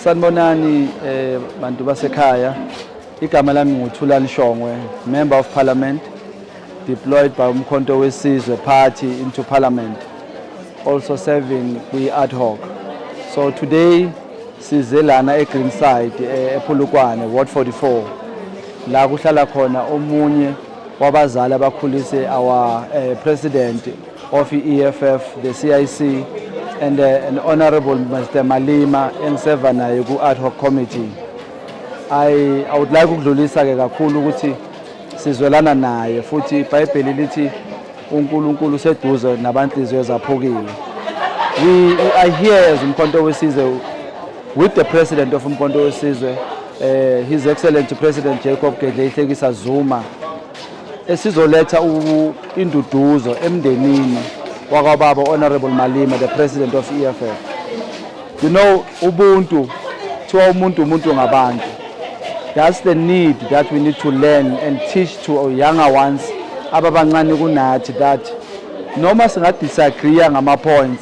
Sanibonani eh bantu basekhaya. Igama lami nguThulani Shongwe, Member of Parliament deployed by Umkhonto weSizwe Party into Parliament, also serving kwi ad hoc. So today size lana eGreenside eh, ePhulukwane Ward 44 la kuhlala khona omunye wabazali abakhulise our uh, president of EFF the CIC and uh, an honorable Mr Malima engiseva naye ku ad hoc committee I, I would like ukudlulisa ke kakhulu ukuthi sizwelana naye futhi iBhayibheli lithi uNkulunkulu useduze nabanhliziyo zaphukile we I hear as umkhonto wesizwe with the president of umkhonto wesizwe eh, His Excellency President Jacob Gedle Ihlekisa Zuma esizoletha induduzo emndenini wakwababa Honorable Malima the President of EFF. You know ubuntu kuthiwa umuntu umuntu ngabantu. That's the need that we need to learn and teach to our younger ones ababancane kunathi that noma singadisagree ngama points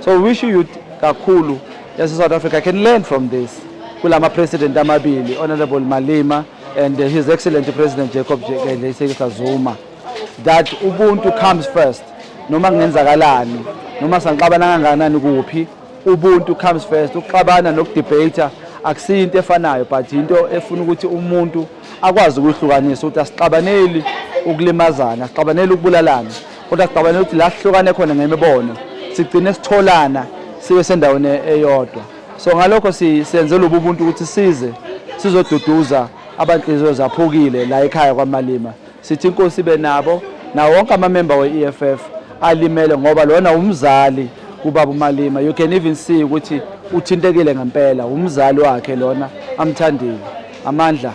So we wish you kakhulu yase South Africa can learn from this kulama president amabili honorable Malema and his excellent president Jacob Jekele Zuma that ubuntu comes first noma kungenzakalani noma sanqabana kangakanani kuphi ubuntu comes first ukuxabana nokudebate akusiyo into efanayo but into efuna ukuthi umuntu akwazi ukuhlukanisa ukuthi asixabaneli ukulimazana asixabaneli ukubulalana kodwa sicabane ukuthi la sihlukane khona ngemibono sigcine sitholana sibe sendaweni eyodwa so ngalokho senze lobu buntu ukuthi size sizoduduza abanhliziyo zaphukile la ekhaya kwamalima sithi inkosi ibe nabo nawo wonke amamemba we-eff alimele ngoba lona umzali kubaba umalima you can even see ukuthi uthintekile ngempela umzali wakhe lona amthandile Amandla.